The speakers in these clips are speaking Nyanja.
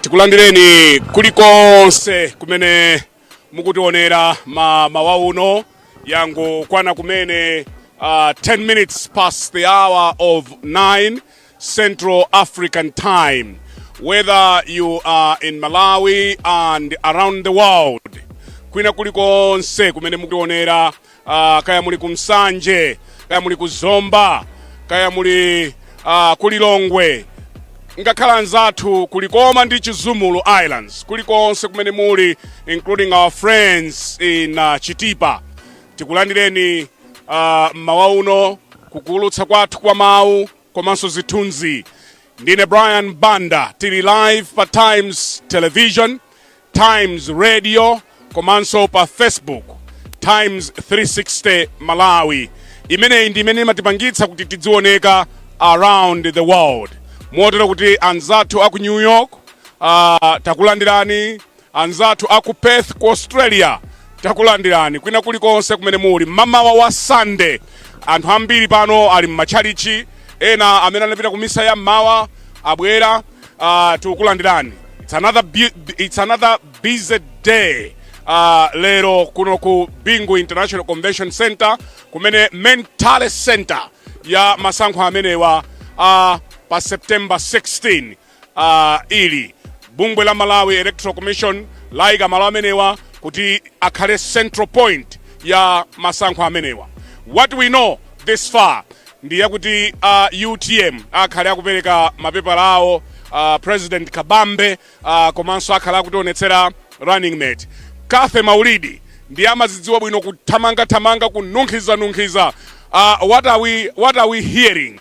tikulandireni kulikonse kumene mukutionera mmawa uno yangokwana kumene uh, 10 minutes past the hour of 9 Central African Time. Whether you are in Malawi and around the world, kwina kulikonse kumene mukutionera, uh, kaya muli ku Nsanje, kaya muli ku Zomba, kaya muli uh, ku Lilongwe, ngakhale anzathu ku Likoma ndi Chizumulu Islands, kulikonse kumene muli, including our friends in uh, Chitipa. Tikulandireni uh, mmawa uno kukuulutsa kwathu kwa mawu komanso zithunzi. Ndine Brian Banda, tili live pa Times Television, Times Radio komanso pa Facebook Times 360 Malawi. Imeneyi ndi imene imatipangitsa kuti tidzioneka around the world, motero kuti anzathu aku New York uh, takulandirani Anzathu a ku Perth ku Australia takulandirani kwina kulikonse kumene muli mmamawa wa Sunday. Anthu ambiri pano ali m'matchalitchi, ena amene anapita ku misa ya mmawa abwera. Uh, tikulandireni. It's another, it's another busy day. Uh, lero kuno ku Bingu International Convention Center kumene main tally center ya masankho amenewa uh, pa September 16 uh, ili bungwe la malawi electoral commission layika malo amenewa kuti akhale central point ya masankho amenewa what we know this far ndi yakuti uh, utm akhale akupereka mapepala awo uh, president akabambe uh, komanso akhala akutionetsera running mate cathy maulidi ndiye amazidziwa bwino kuthamangathamanga kununkhizanunkhiza uh, what, are we, what are we hearing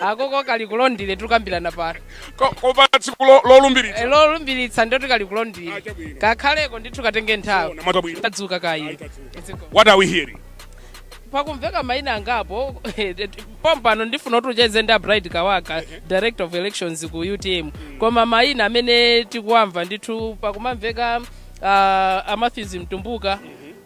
akoko kali ku londile tikukambirana pano Ko- kopa tsiku lo- lolumbiritsa Eh, lolumbiritsa ndio tikali ku londile Ah, chabwino. kakhaleko ndithu katenge nthawi Ona mwadzuka bwino tadzuka kaya Tadzuka. what are we hearing pakumveka maina angapo pompano ndifuna kuti ucheze ndi abright kawaka director of elections ku utm koma maina amene tikuwamva ndithu pakumamveka uh, amatthews mtumbuka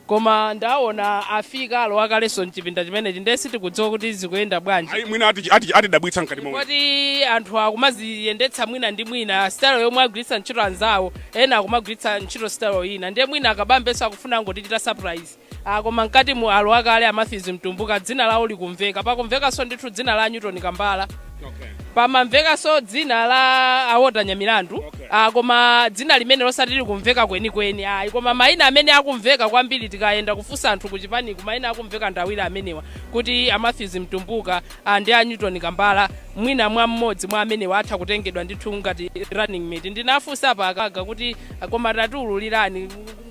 Koma ndaona afika alowa kaleso mchipinda chimenechi nde sitikudziwa kuti zikuyenda bwanji. Ayi mwina atidabwitsa mkati momwe. Poti anthu akumaziyendetsa mwina ndi mwina style yomwe agwiritsa ntchito anzawo ena akumagwiritsa ntchito style ina nde mwina a Kabambenso akufuna angotichita surprise. Aaa koma mkatimu alowa kale a Mathews Mtumbuka dzina lawo likumveka, pakumvekanso ndithu dzina la a Newton Kambala. Okay. pamamvekanso dzina la a walter nyamilandu Okay. ah, koma dzina limene losati likumveka kwenikweni ayi koma mayina amene akumveka kwambiri tikayenda kufunsa anthu ku chipaniku mayina akumveka ndawiri amenewa kuti a matthews mtumbuka ah, ndi a newton kambala mwina mwa mmodzi mwa amenewa atha kutengedwa ndithu ngati running mate ndinafunsa paka ka kuti ah, koma tatiululirani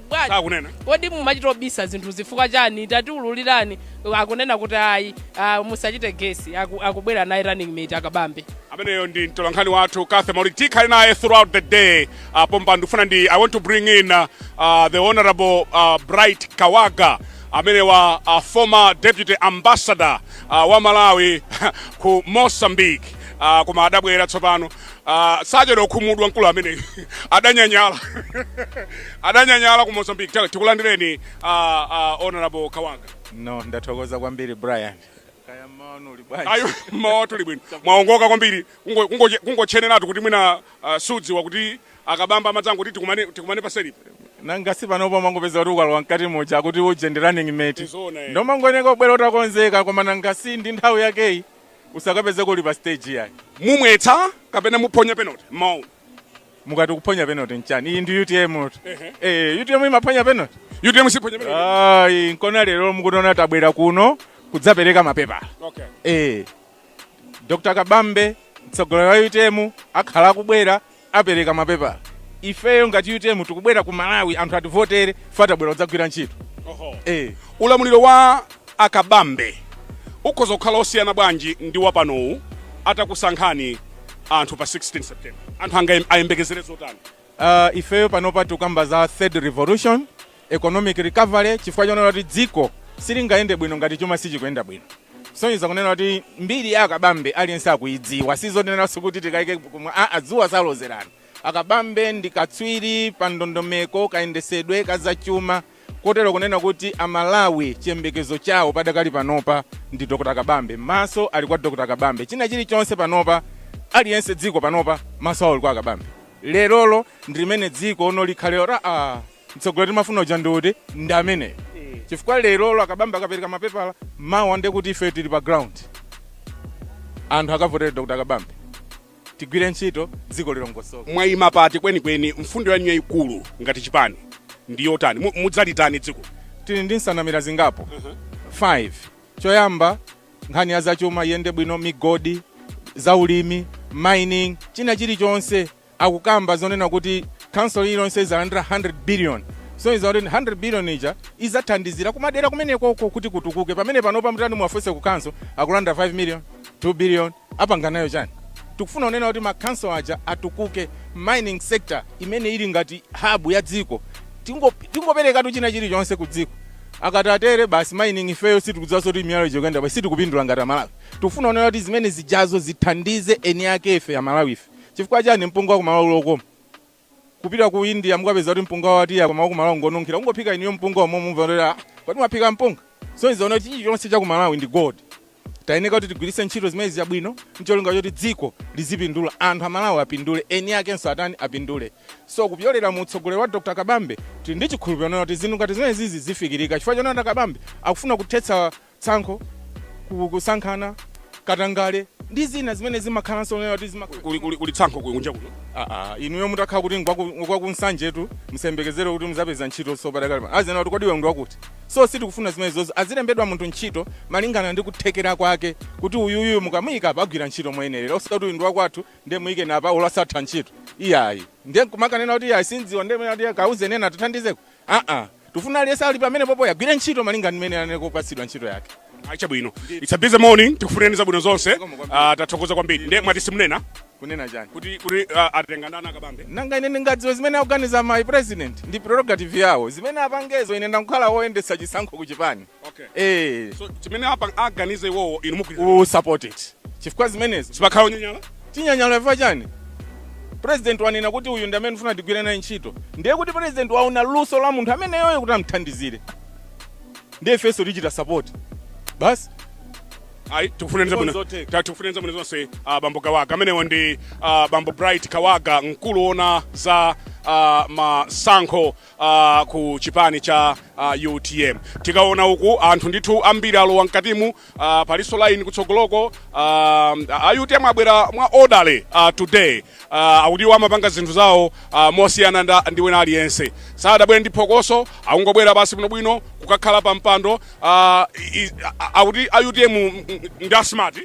bwanji sakunena kodi mumachita obisa zinthu zifukwa chani tatiululirani akunena kuti ayi ah, musachite gesi Aku- akubwera naye running mate akabambe ameneyo ndi mtolankhani wathu cathy maulidi tikhale naye throughout the day uh, pompa ndikufuna ndi i want to bring in uh, uh, the honorable uh, bright kawaga amenewa uh, former deputy ambassador uh, wa malawi ku mozambique uh, koma adabwera tsopano Ah, sachedwa kukhumudwa mkulu ameneyu adanyanyala adanyanyala ku mozambique Tala, tikulandireni ah, ah, honorable kawaga no ndathokoza kwambiri brian kaya mmawa uno muli bwanji ayi mmawa uno tili bwino mwaongoka kwambiri kungo- kungo- kungotcheneratu kuti mwina ah, sudziwa kuti akabambe amadzangoti tikumane tikumane paselipo nanga si panopo umangopeza kuti ukalowa mkati muja akuti uje ndi running mate Ndizoona, eh. nde umangofunika ubwere utakonzeka koma nanga si ndi nthawi yakeyi Usakapezeke uli pa stage iyayi. Mumwetsa kapena muphonya penalty mmawa uno? Mukati kuphonya penalty nchani? Iyi ndi utmtu. Eh, utm imaphonya penalty? Utm siphonya penalty. Ayi, nkona lero mukutiona tabwera kuno kudzapereka mapepala. Okay. Eh. Dr. Kabambe mtsogoleri wa utm akhala akubwera apereka mapepala ifeyo ngati utm tikubwera ku malawi anthu ativotere ife tabwera kudzagwira ntchito eh. ulamuliro wa akabambe ukhoza kukhala osiyana bwanji ndi wapanowu atakusankhani anthu pa 16 september anthu ayembekezere zotani uh, ifeyo panopa tikukamba za third revolution economic recovery chifukwa chonena kuti dziko silingayende bwino ngati chuma sichikuyenda bwino kusonyeza kunena kuti mbiri ya akabambe aliyense akuyidziwa sizonenanso kuti tikayike kuti dzuwa salozerana akabambe ndi katswiri pa ndondomeko kayendetsedwe ka zachuma kotero kunena kuti amalawi chiyembekezo chawo padakali panopa ndi dr kabambe maso ali kwa dr kabambe china chilichonse panopa aliyense dziko panopa maso awo ali kwa akabambe lerolo ndi limene dziko lione likhale loti ah Mtsogoleri timafuna uja ndi uti? Ndi ameneyo. Chifukwa lerolo akabambe akapereka mapepala, mawa ndiye kuti ife tili pa ground. Anthu akavotere Dr. Kabambe. Tigwire ntchito, dziko lilongosoke. Mwayima pati kwenikweni? Mfundo yanu yayikulu ngati chipani ndi yotani? Mu- Mudzalitani dziko? Tili ndi nsanamira zingapo? 5. Choyamba, nkhani ya zachuma iyende bwino, migodi, zaulimi, mining, china chilichonse. akukamba zonena kuti council iliyonse izalandira 100 billion zikusonyeza kuti 100 billion ija izathandizira kumadera kumeneko kuti kutukuke pamene panopa mutati muwafunse ku council akulandira 5 million 2 billion apanga nayo chani tikufuna kunena kuti ma council aja atukuke mining sector imene ili ngati hub ya dziko Tingo- tingoperekatu china chilichonse ku dziko akatatere basi mining ifeyo sitikudziwanso kuti miyala ija kuyenda basi sitikupindula ngati amalawi tikufuna kunena kuti zimene zijazo zithandize eni ake ife amalawi ife Chifukwa chani mpunga wakumalawi uli okoma? Kupita ku India mukapeza kuti mpunga wa tiya koma wakumalawi ngonunkhira. Kungophika inuyo mpunga omwe mumva kuti ah kodi mwaphika mpunga? So zikuoneka kuti chilichonse chakumalawi ndi gold. Tayeneka kuti tigwiritse ntchito zimene zija bwino ncholinga choti dziko lizipindula, anthu amalawi apindule, eni akenso atani apindule. So kupyolera mu utsogoleri wa Dr Kabambe tili ndi chikhulupiliro chonena kuti zinthu ngati zimenezizi zifikirika chifukwa chonena kuti a Kabambe akufuna kuthetsa tsankho, kusankhana, katangale ndi zina zimene zimakhalanso zonena kuti zimakhala Kuli, kuli, kuli tsankho kuli kunja kuno. Ah, ah, inuyo mutakhala kuti ngwakunsanjetu musayembekezere kuti muzapeza ntchito so padakali pano azinena kuti kodi iwe ndi wakuti so sitikufuna zimenezozo azilembedwa munthu ntchito malingana ndi kuthekera kwake kuti uyuyu mukamuyika apa agwira ntchito moyenerera osati kuti uyu ndi wakwathu ndiye muyikeni apa uku asakutha ntchito iyayi ndiye kumakanena kuti iyayi sindziwa ndiye mene kuti kauze nena tithandizeko aa tifuna aliyense ali pamene popoyo agwire ntchito malinga ndi mmene anapatsidwira ntchito yake ah chabwino it's a busy morning tikufunireni zabwino zonse Ah, tathokoza kwambiri nde mwati simunena kunena chani kuti kuti ah, atenga ndani a kabambe nanga ine ndingadziwe zimene akuganiza my president ndi prerogative yawo zimene apangezo ine ndakukhala woyendetsa chisankho ku chipani Okay. Eh, So chimene aganize iwowo inu mugwirizana. we will support it. Chifukwa zimenezo. Sipakhala onyanyala. Tinyanyala chifukwa chani? President wanena kuti uyu ndi amene ndikufuna tigwire naye ntchito. Ndiye kuti president waona luso la munthu ameneyoyo kuti amthandizire. Ndiye ifenso tichita support. Basi. Ayi tikufunireni zabwino. zotheka. Tikufunireni zabwino zonse ah, bambo Kawaga. Amenewo ndi ah, bambo Bright Kawaga mkulu ona za ah, masankho uh, ku chipani cha uh, utm tikaona uku anthu ndithu ambiri alowa mkatimu uh, palinso line kutsogoloko uh, a utm abwera mwa orderly uh, today uh, akuti iwo amapanga zinthu zawo uh, mosiyana nda- ndi wina aliyense sadabwere ndi phokoso akungobwera basi bwinobwino kukakhala pa mpando uh, i- i- a- akuti a utm ndi asmart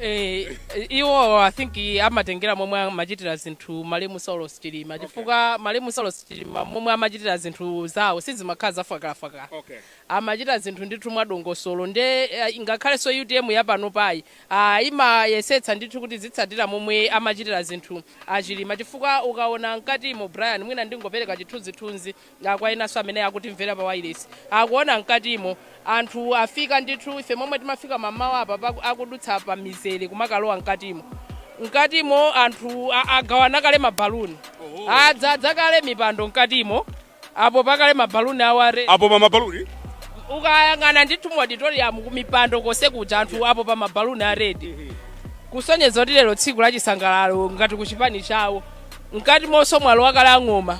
Eh, iwo i think amatengera momwe amachitira zinthu malemu saulos chilima chifukwa malemu saulos chilima momwe amachitira zinthu zawo sizimakhala zafakalafakala Okay. amachita zinthu ndithu mwadongosolo nde eh, ngakhalenso utm yapanopayi ah, imayesetsa ndithu kuti izitsatira momwe amachitira zinthu achilima chifukwa ukaona mkatimo brian mwina ndingopereka chithunzithunzi Kwa enanso amene akutimvera pa wailesi akuona mkatimo anthu afika ndithu ife momwe timafika mammawa apa paku- akudutsa pa mizere kumakalowa mkatimo mkatimo anthu a- agawana kale mabaluni adzadza kale mipando mkatimo apopa kale mabaluni awo apo pa mabaluni ukayang'ana ndithu mu auditorium kumipando konse kuja anthu apopa mabaluni a red kusonyeza kuti lero tsiku la chisangalalo ngati ku chipani chawo mkatimonso mwalowa kale ang'oma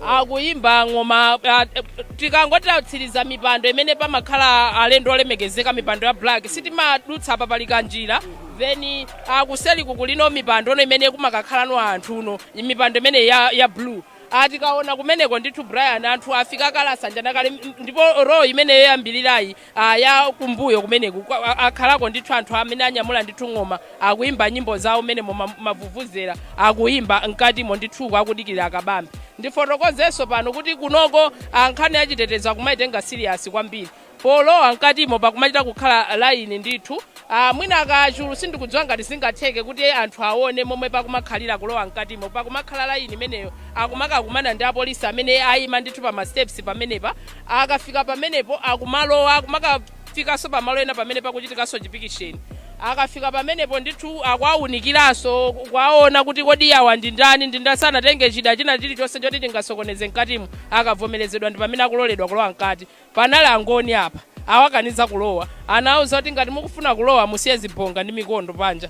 akuyimba ng'oma ah, eh, tikangoti tatsiriza mipando imene pamakhala alendo olemekezeka mipando ya black sitimadutsa apa pali kanjira then kuseli kuku ndiye kuli mipando no imene kumakakhalano anthu no mipando imene ya, ya blue ah tikaona kumeneko ndithu brian anthu afika kale asanjana kale m- ndipo row imene yoyambirirayi ah, ya kumbuyo kumeneku kwa- a- akhalako ndithu anthu amene anyamula ndithu ng'oma akuyimba nyimbo zawo mmene mavuvuzera akuyimba mkatimo ndithuko akudikirira a Kabambe ndifotokozenso pano kuti kunoko ah, nkhani ya chitetezo akumayitenga siriyasi kwambiri polowa mkatimo pakumachita kukhala laini ndithu Aaa mwina a Kachulu sindikudziwa ngati zingatheke kuti anthu awone momwe pakumakhalira kulowa mkatimo pakumakhala line imeneyo akumakakumana ndi apolisi amene ayima ndithu pa ma steps pamenepa akafika pamenepo akumalowa akumakafikanso pa malo ena pamene pakuchitikanso chipikisheni akafika pamenepo ndithu akuwawunikiranso kuwawona kuti kodi awa ndi ndani ndi ndani sanatenge chida china chilichonse choti chingasokoneze mkatimo akavomerezedwa ndi pamene akuloledwa kulowa mkati. Panali angoni apa awakaniza kulowa anawauza kuti ngati mukufuna kulowa musiye zibonga ndi mikondo panja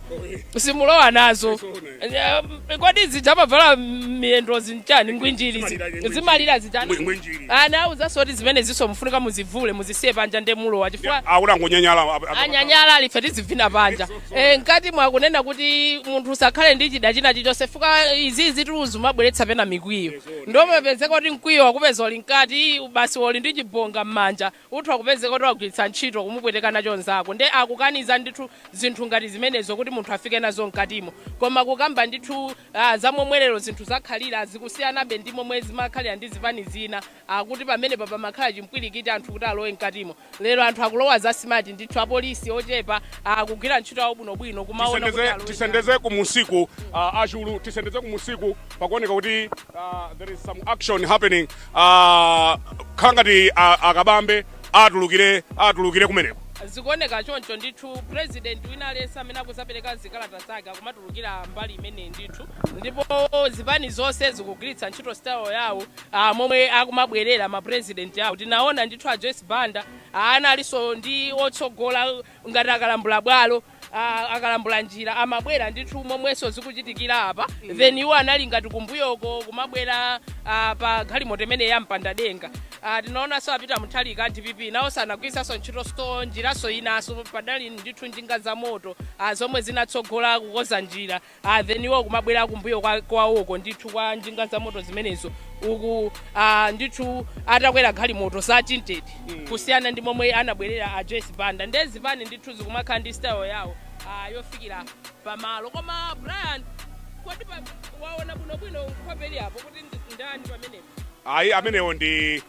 simulowa nazo Eh, kodi zija amavala m'miyendozi nchani ngwinjiri zi- zimalira zija Ngwinjiri. anawuzanso kuti zimenezinso mufunika muzivule muzisiye panja nde mulowa chifukwa akula ngonyanyala a- a- anyanyala ali ife tizivina panja Eh, mkati mwakunena kuti munthu usakhale ndi chida china chichonse fuka izizi tu zumabweretsa pena mikwiyo nde umapezeka kuti mkwiyo wakupeza uli mkati basi uli ndi chibonga m'manja utha kupezeka kuti wagwiritsa ntchito kumupweteka nacho mnzako nde akukaniza ndithu zinthu ngati zimenezo kuti munthu afike nazo mkatimo koma kukamba ndithu ah, za momwe lero zinthu zakhalira zikusiyanabe ndi momwe zimakhalira ndi zipani zina zakuti pamenepa pamakhala chimpwirikiti anthu kuti alowe mkatimo Lero anthu akulowa za smart ndithu apolisi ochepa akugwira ntchito yawo bwinobwino kumaona kuti alowe tisendeze kumunsiku uh, a Kachulu tisendeze kumunsiku pakuoneka kuti uh, there is some action happening uh, khala ngati uh, a Kabambe atulukire atulukire kumeneko zikuoneka choncho ndithu president wina aliyense amene akuzapereka zikalata zake akumatulukira mbali imeneyi ndithu ndipo zipani zonse zikugwiritsa ntchito style yawo a momwe akumabwerera ma president awo tinaona ndithu a Joyce Banda a analinso ndi otsogola ngati akalambula bwalo a, akalambula njira amabwera ndithu momwenso zikuchitikira apa then iwo anali ngati kumbuyoko kumabwera a, pa galimoto imene yopanda denga a, tinaonanso a Peter Mutharika a dpp nawo anagwiritsanso ntchito sto njiranso inanso padali ndithu njinga za moto a, zomwe zinatsogola kukonza njira ah, then iwo kumabwera kumbuyo kwa- kwawoko ndithu kwa njinga za moto zimenezo uku ah, ndithu atakwera galimoto za tinted kusiyana ndi momwe anabwerera a joyce banda nde zipani ndithu zikumakhala ndi style yawo ah, yofikira pamalo koma brian kodi pa- waona bwinobwino nkhope ili apo kuti ndi- ndani pamenepo ayi amenewo ndi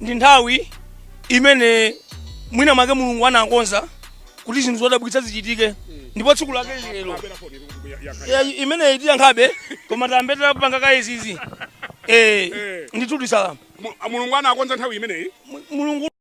ndi nthawi imene mwina mwake mulungu anakonza kuti zinthu zodabwitsa zichitike ndipo tsiku lake lili lero Ya- imeneyi tiyankhabe koma tiyambe tapanga kaye izizi Eh, ndithu tisalama Mu- mulungu anakonza nthawi imeneyi Mu- mulungu